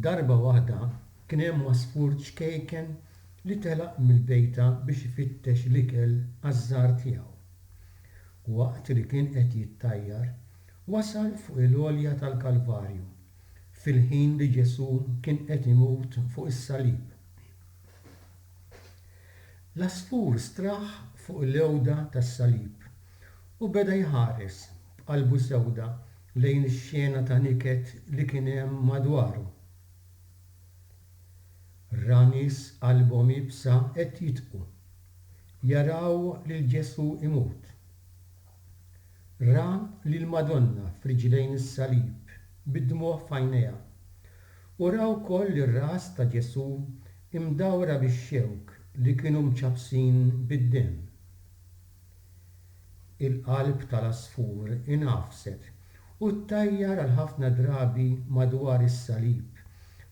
Darba waħda kien hemm għasfur ċkejken li telaq mill-bejta biex ifittex l-ikel għaż-żgħar tiegħu. Waqt li kien qed jittajjar, wasal fuq il-għolja tal-Kalvarju fil-ħin li Ġesù kien qed imut fuq is-salib. L-għasfur straħ fuq l-għewda tas-salib u beda jħares b'qalbu sewda lejn ix-xena ta' niket li kien hemm madwaru. Ra nies qalbhom iebsa qed jitqu. Jaraw lil Ġesù imut. Ra lill-Madonna f'riġlejn is-salib, bid-dmugħ f'għajnejha. U ra wkoll ir-ras ta' Ġesù imdawra bix-xewk li kienu mċappsin bid-demm. Il-qalb tal-għasfur ingħafset u ttajjar għal ħafna drabi madwar is-salib,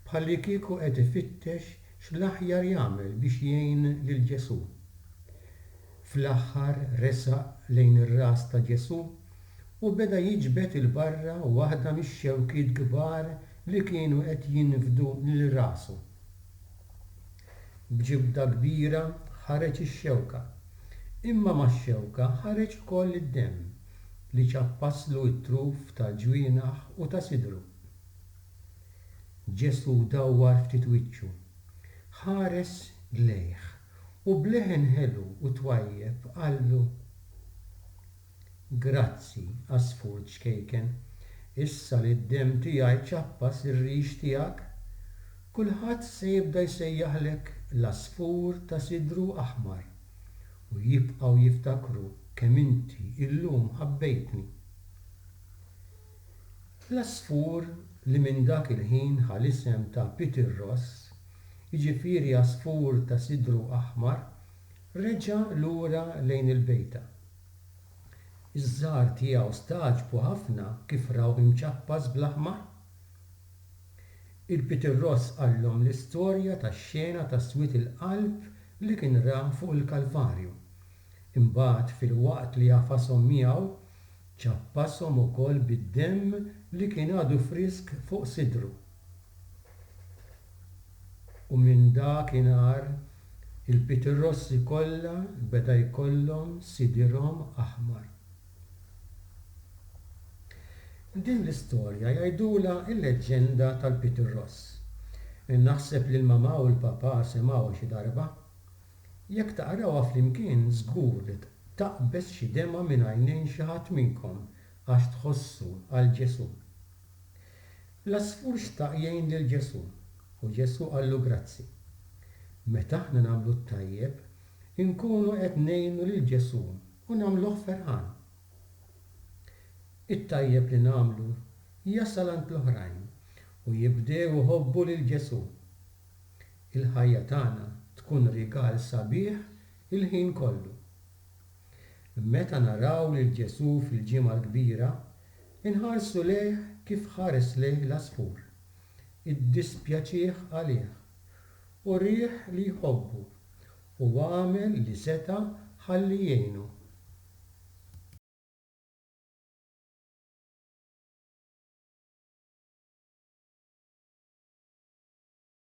bħallikieku qed ifittex x'l-aħjar jagħmel biex jgħin lil Ġesù. Fl-aħħar resaq lejn ir-ras ta' Ġesù u beda jiġbed 'il barra waħda mix-xewkiet kbar li kienu qed jinfdu lil rasu. B'ġibda kbira ħareġ ix-xewka, imma max-xewka ħareġ ukoll id-demm li ċappaslu t-truf tal-ġwienaħ u ta' sidru. Ġesù dawwar ftit wiċċu, ħares lejh U b'leħen ħelu u twajjeb qallu, Grazzi, għasfur ċkejken, issa li d-demm tiegħi ċappas ir-rix tiegħek, kulħadd se jibda jsejjaħlek l-għasfur ta' sidru aħmar, u jibqgħu jiftakru kemm inti llum ħabbejtni. L-għasfur li minn dak il-ħin ħa l-isem ta' Peter Ross, jiġifieri għasfur ta' sidru aħmar, reġa' lura lejn il-bejta. Iż-żgħar tiegħu stagħġbu ħafna kif raw imċappas bl-aħmar. Il-Peter Ross qallhom l-istorja tax-xena ta' swied il-qalb li kien ra fuq il-Kalvarju. Imbagħad filwaqt li għafashom miegħu, Ċappashom ukoll bid-demm li kien għadu frisk fuq sidru. U minn dak inhar, il-pitirrossi kollha beda jkollhom sidirhom aħmar. Din l-istorja jgħidulha l-leġġenda tal-pitirross. Naħseb li l-mamà u l-papà semgħuha xi darba. Jekk taqrawha flimkien żgur li taqbeż xi demgħa minn għajnejn xi ħadd minnkom għax tħossu għal Ġesù. L-għasfur xtaq jgħin lil Ġesù u Ġesù qallu grazzi. Meta aħna nagħmlu t-tajjeb, inkunu qed ngħinu lil Ġesù u nagħmluh ferħan. It-tajjeb li nagħmlu jasal għand l-oħrajn u jibdew iħobbu lil Ġesù. il-ħajja tagħna tkun rigal sabiħ il-ħin kollu. Meta naraw lil Ġesù fil-Ġimgħa l-Kbira, inħarsu lejh kif ħares lejh l-għasfur, iddispjaċih għalih, urieh li jħobbu, u għamel li seta' ħalli jgħinu.